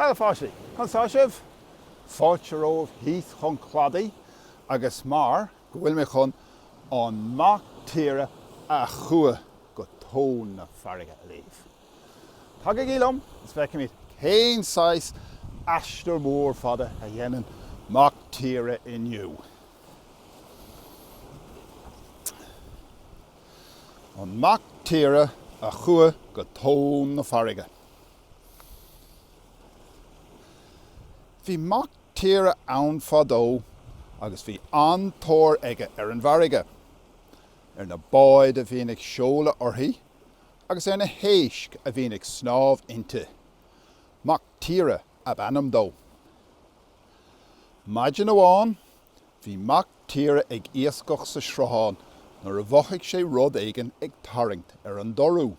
Hello a pháistí, conas atá sibh? Fáilte romhaibh thíos chun cladaigh agus mar. go bhfuil mé chun an mac tíre a chuaigh go tóin na farraige a léamh. Tagaigí liom is feicimid cén saghas aistear mór fada a dhéanann mac tíre inniu. An mac tíre a chuaigh go tóin na farraige. Bhí mac tíre ann fadó agus bhí an-tóir aige ar an bhfarraige, ar na báid a bhíonn ag seoladh uirthi agus ar na héisc a bhíonn ag snámh inti. Mac Tíre ab ainm dó. Maidin amháin, bhí Mac Tíre ag iascach sa sruthán nuair a mhothaigh sé rud éigin ag tarraingt ar an dorú.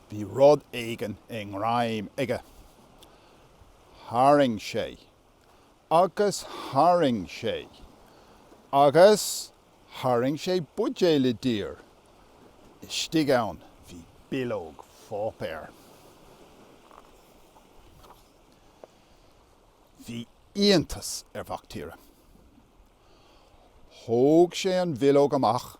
Bhí rud éigin i ngreim aige. Tharraing sé. Agus tharraing sé. Agus tharraing sé buidéal i dtír. Istigh ann bhí bileog pháipéir. Bhí iontas ar Mhac Tíre. Thóg sé an bhileog amach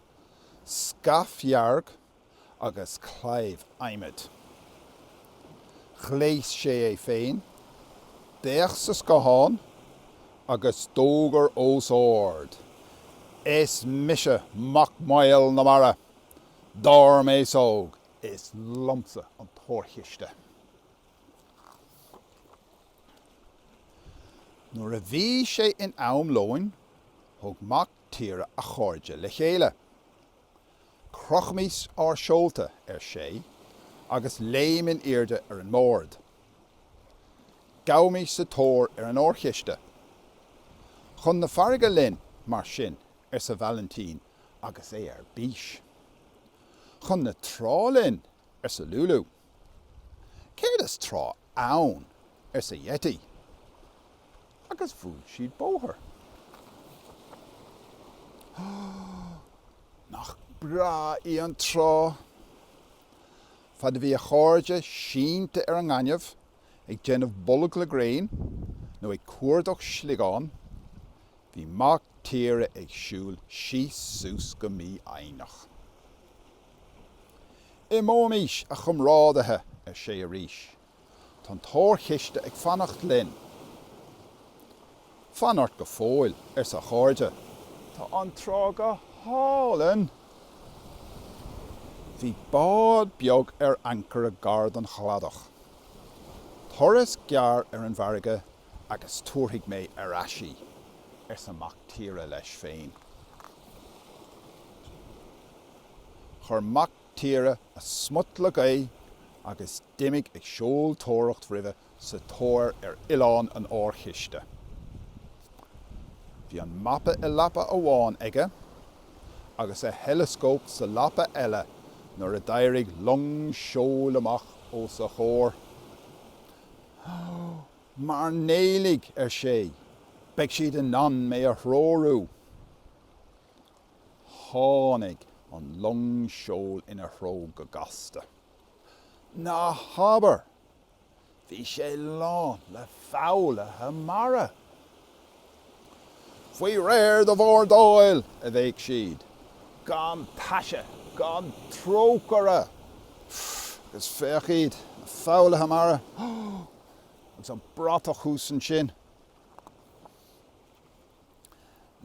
scairf dhearg agus claíomh adhmaid. Ghléas sé é féin d'fhéach sa scáthán agus d'fhógair os ard, Is mise Mac Maol na Mara! Dar m'fhéasóg, is liomsa an t-órchiste! Nuair a bhí sé in am lóin, thug Mac. tíre a chairde le chéile. Crochaimis ár seolta, ar sé, agus léim in airde ar an mbord. Gabhaimis sa tóir ar an órchiste. Chun na farraige linn, mar sin, arsa Valentin agus é ar bís. Chun na trá linn, arsa Lulou. Céard is trá ann? arsa Yeti. Agus bhuail siad bóthar. Nach breá í an trá! Fad a bhí a chairde sínte ar an ngaineamh ag déanamh bolg le gréin nó ag cuardach sliogán, bhí Mactíre ag siúl síos suas go mífhoighneach. Imeoimis, a chomrádaithe, ar sé arís. Tá an t-órchiste ag fanacht linn. Fan ort go fóill, arsa a chairde. Tá an trá go hálainn. Bhí bád beag ar ancaire gar don chladach. Turas gearr ar an bhfarraige agus tabharfaidh mé ar ais í, arsa Mactíre leis féin. Chuir mac tíre a smut le gaoth agus d'imigh ag seoltóireacht roimhe sa tóir ar oileán an órchiste. Bhí an mapa i lapa amháin aige agus a theileascóp sa lapa eile nuair a d'éirigh long seoil amach os a chomhair. Ó, mairnéalaigh, ar sé, beidh siad in ann mé a threorú! Tháinig an long seoil ina threo go gasta. Ná habair! Bhí sé lán le foghlaithe mara. Faoi réir do bhordáil! a bhéic siad. Gan taise, gan trócaire! Agus féach iad, na foghlaithe mara, agus an bratach thuas ansin.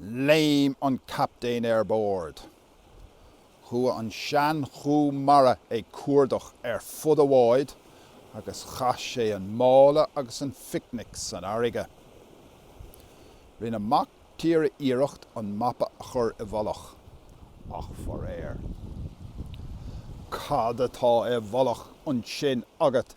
Léim an captaen ar bord. Chuaigh an seanchú mara ag cuardach ar fud an bháid agus chaith sé an mála agus an phicnic san fharraige. Rinne mac tíre iarracht an mapa a chur i bhfolach, ach faraor. Cad atá i bhfolach ansin agat?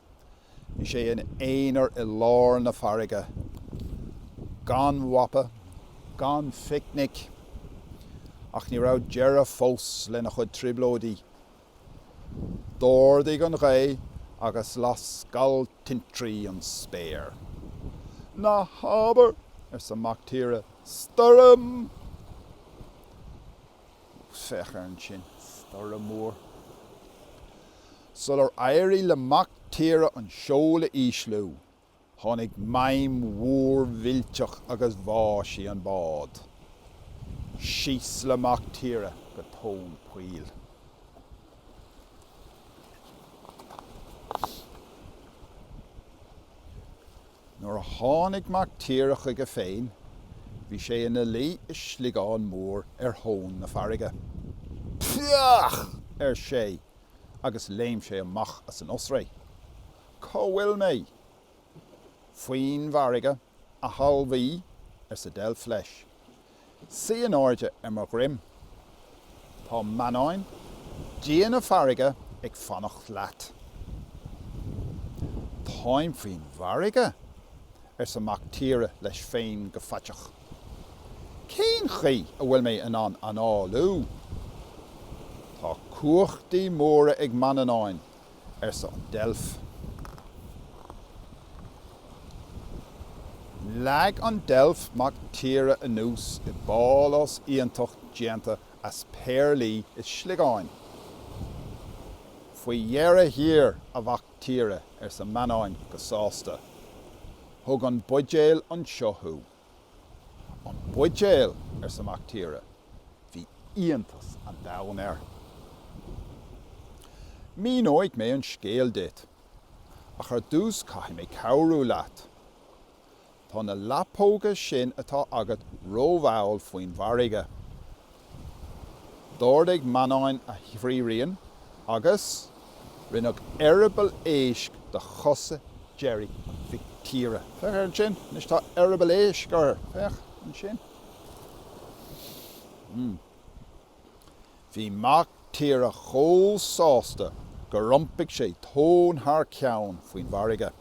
Bhí sé ina aonar i lár na farraige, gan mhapa, gan phicnic, ach ní raibh deireadh fós lena chuid trioblóidí. D'ardaigh an ghaoth agus las scal tintrí an spéir. Na habair, arsa mac tíre, stoirm! Féach air ansin, stoirm mhór! Sular éirigh le Mac Tíre an seol a ísliú, tháinig maidhm mhór mhillteach agus bháigh sí an bád. Síos le Mac Tíre go tóin poill. Nuair a tháinig Mac Tíre chuige féin, bhí sé ina luí i sliogán mór ar thóin na farraige. Pffaach! ar sé, agus léim sé amach as an oisre. Cá bhfuil mé? Faoin bhfarraige, a thalmhaí, arsa deilf leis. Suigh in airde ar mo dhroim. Tá Manannán Dia na farraige ag fanacht leat. Táim faoin bhfarraige, arsa Mac Tíre leis féin go faiteach. Cén chaoi a bhfuil mé in ann análú? Tá cumhachtaí móra ag Manannán, arsa an deilf. Leag an deilf Mac Tíre anuas i bpálás iontach déanta as péarlaí is sliogáin. Faoi dheireadh thiar, a Mhac Tíre, arsa Manannán go sásta. Thug an buidéal anseo thú. An buidéal! arsa Mac Tíre. Bhí iontas an domhain air. Míneoidh mé an scéal duit, ach ar dtús caithfidh mé cabhrú leat. Tá na lapóga sin atá agat rómhall faoin bhfarraige. D'ardaigh Manannán a thrírinn agus, rinneadh eireaball éisc de chosa deiridh Mhic Tíre. Féach ansin. Anois tá eireaball éisc air. Féach ansin. Hmm. Bhí Mac Tíre chomh sásta gur iompaigh sé tóin thar ceann faoin bhfarraige.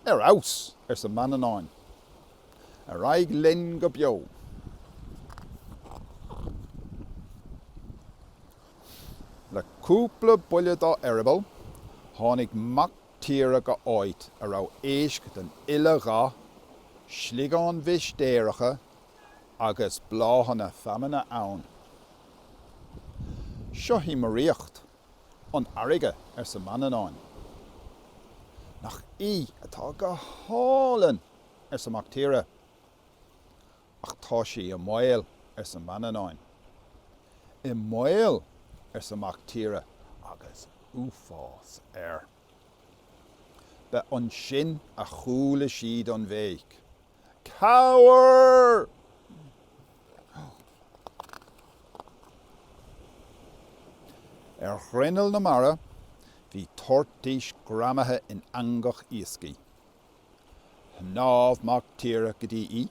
Ar fheabhas! arsa Manannán. Ar aghaidh linn go beo. Le cúpla buille dá eireaball, tháinig Mac Tíre go háit a raibh éisc den uile dhath, sliogáin mhistéireacha agus bláthanna feamainne ann. Seo í mo ríocht. an fharraige, arsa Manannán. Nach í atá go hálainn! arsa Mac Tíre. Ach tá sí i mbaol, arsa Manannán. I mbaol! arsa Mac Tíre agus uafás air. Ba ansin a chuala siad an bhéic. Cabhair! Ar ghrinneall na mara bhí toirtís greamaithe in eangach iascaigh. Shnámh mac tíre go dtí í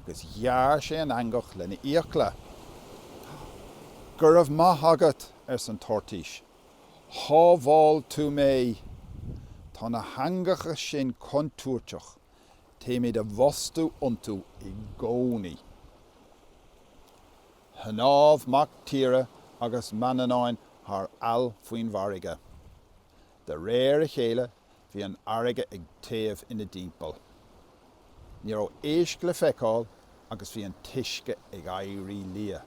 agus ghearr sé an eangach lena fhiacla. Go raibh maith agat, arsa an toirtís. Shábháil tú mé. Tá na heangacha sin contúirteach. Téimid i bhfostú iontu i gcónaí. Shnámh mac tíre agus Manannán thar aill faoin bhfarraige. De réir a chéile bhí an fharraige ag téamh ina dtimpeall. Ní raibh éisc le feiceáil agus bhí an t-uisce ag éirí liath.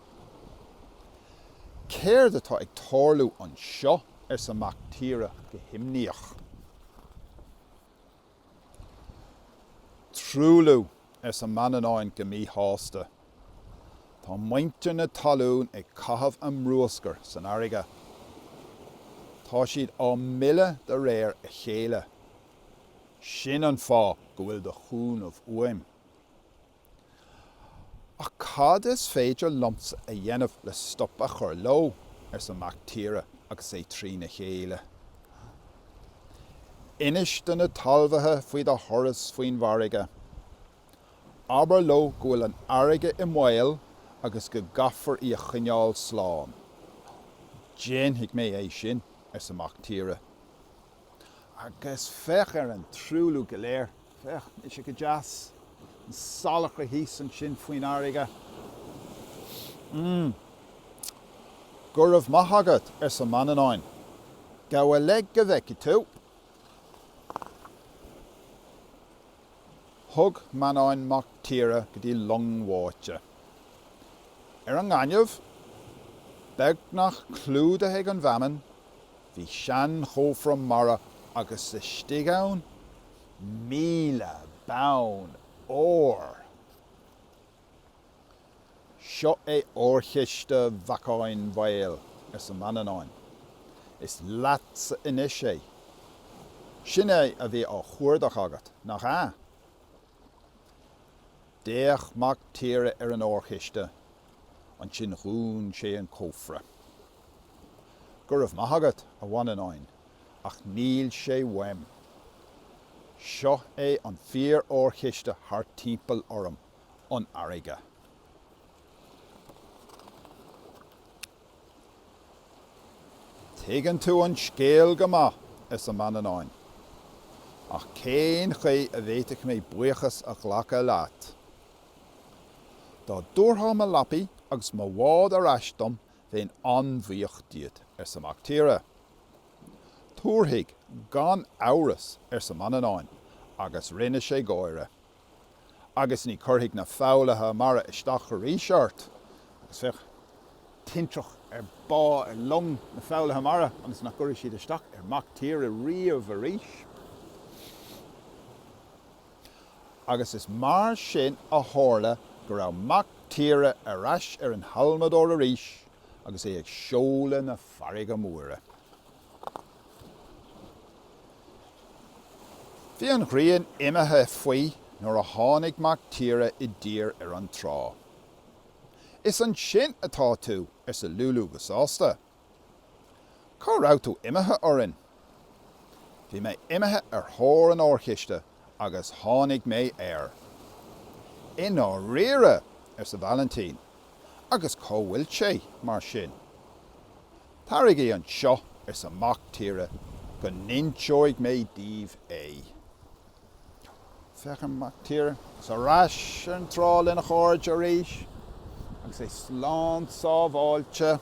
Céard atá ag tarlú anseo? arsa mac tíre go himníoch. Truailliú! arsa Manannán go míshásta. Tá muintir na talún ag caitheamh a mbruascair san fharraige. Tá siad á milleadh de réir a chéile. Sin an fáth go bhfuil do chúnamh uaim. Ach cad is féidir liomsa a dhéanamh le stop a chur leo? arsa Mac Tíre agus é trína chéile. Inis do na talmhaithe faoi do thuras faoin bhfarraige. Abair leo go bhfuil an fharraige i mbaol agus go gcaithfear í a choinneáil slán. Déanfaidh mé é sin, arsa Mac Tíre. Agus féach ar an truailliú go léir Féach, níl sé go deas, an salachar thíos ansin faoin fharraige. Go raibh maith agat, arsa Manannán. Gabh i leith go bhfeicfidh tú. Thug Manannán Mac Tíre go dtí long bháite. Ar an ngaineamh, beagnach clúdaithe ag an bhfeamainn, bhí seanchófra mara agus istigh ann míle bonn óir. Seo é órchiste Mhacáin Mhaoil, arsa Manannán. Is leatsa anois é. Sin é a bhí á chuardach agat, nach ea? D'fhéach Mac Tíre ar an órchiste, ansin dhún sé an cófra. Go raibh maith agat, a Mhanannáin, ach níl sé uaim. Seo é an fíor-órchiste thart timpeall orm, an fharraige. Tuigeann tú an scéal go maith, arsa Manannán, ach cén chaoi a bhféadfadh mé buíochas a ghlacadh leat? Dá dtabharfá mo mhapaí agus mo bhád ar ais dom Bheinn an-bhuíoch díot, arsa Mactíre. Tabharfaidh, gan amhras, arsa Manannán, agus rinne sé gáire. Agus ní chuirfidh na foghlaithe mara isteach arís ort? Agus féach, tintreach ar bádh long na foghlaithe mara ionas nach gcuirfidh siad isteach ar Mhactíre riamh arís. agus is mar sin a tharla go raibh Mac Tíre ar ais ar an halmadóir arís agus é ag seoladh na farraige móire. Bhí an ghrian imithe faoi nuair a tháinig Mac Tíre i dtír ar an trá. Is ansin atá tú, arsa Lúlú go sásta. Cá raibh tú imithe orainn? Bhí mé imithe ar thóir an órchiste agus tháinig mé air. I ndáiríre! arsa Vailintín, agus cá bhfuil sé, mar sin? Taraigí anseo, arsa Mac Tíre, go n-inseoidh mé daoibh é. Féach an Mactíre thar n-ais ar an trá lena chairde arís agus é slán sábháilte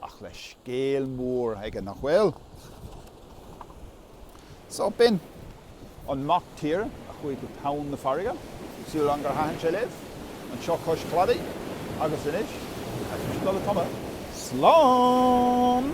ach le scéal mór aige, nach bhfuil? Só, b'in an Mactíre a chuaigh go tóin na farraige súil agam gur thaitin sé libh anseo cois cladaigh agus anois ag dul ag tumadh slán!